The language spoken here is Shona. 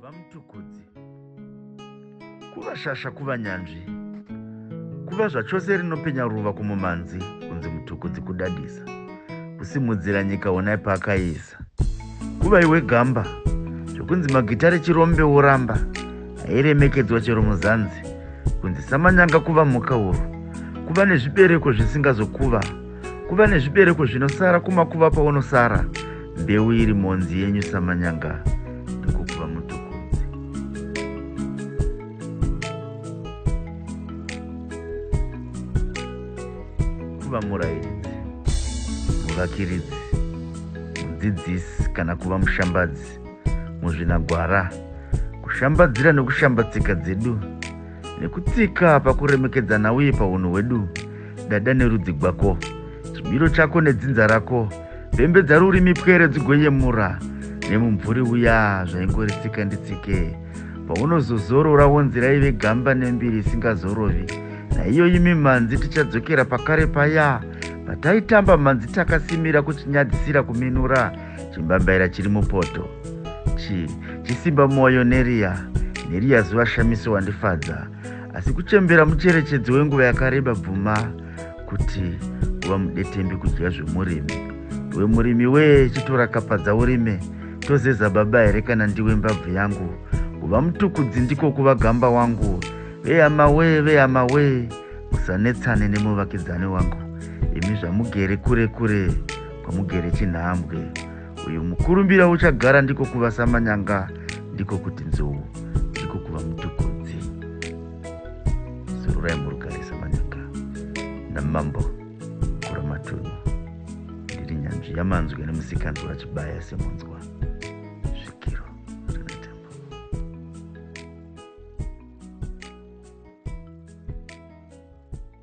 kuva mutukudzi kuva shasha kuva nyanzvi kuva zvachose rinopenya ruva kumumhanzi kunzi mutukudzi kudadisa kusimudzira nyika onai paakaisa kuva iwe gamba zvekunzi magita rechirombe woramba hairemekedzwa chero muzanzi kunzi samanyanga kuva mhuka huru kuva nezvibereko zvisingazokuva kuva nezvibereko zvinosara kumakuva paunosara mbeu iri mhonzi yenyu samanyanga ndikukuva mutukunzi kuva murairidzi muvakiridzi mudzidzisi kana kuva mushambadzi muzvinagwara kushambadzira nekushamba tsika dzedu nekutsika pakuremekedzana uye paunhu hwedu dada nerudzi gwako chimiro chako nedzinza rako pembedza rurimi pwere dzigoyemura nemumvuri uya zvaingoritsika nditsike paunozozorora wonzira ive gamba nembiri isingazorovi naiyo imi mhanzi tichadzokera pakare paya pataitamba mhanzi takasimira kuchinyadzisira kuminura chimbambaira chiri mupoto chi chisimba mwoyo neriya neriya zuva shamiso wandifadza asi kuchembera mucherechedzo wenguva yakareba bvuma kuti kuva mudetembi kudya zvemurimi we murimi wee chitora kapadza urime tozeza baba here kana ndiwe mbabvu yangu kuva mutukudzi ndiko kuva gamba wangu vehama wee vehama wee musanetsane nemuvakidzani wangu imi zvamugere kure kure kwamugere chinhambwe uyu mukurumbira uchagara ndiko kuva samanyanga ndiko kuti nzou ndiko kuva mutukudzi zururai murugare samanyanga namambo kuramatunhu ndiri nyanzvi yamanzwi nemusikanzwa chibaya semunzwa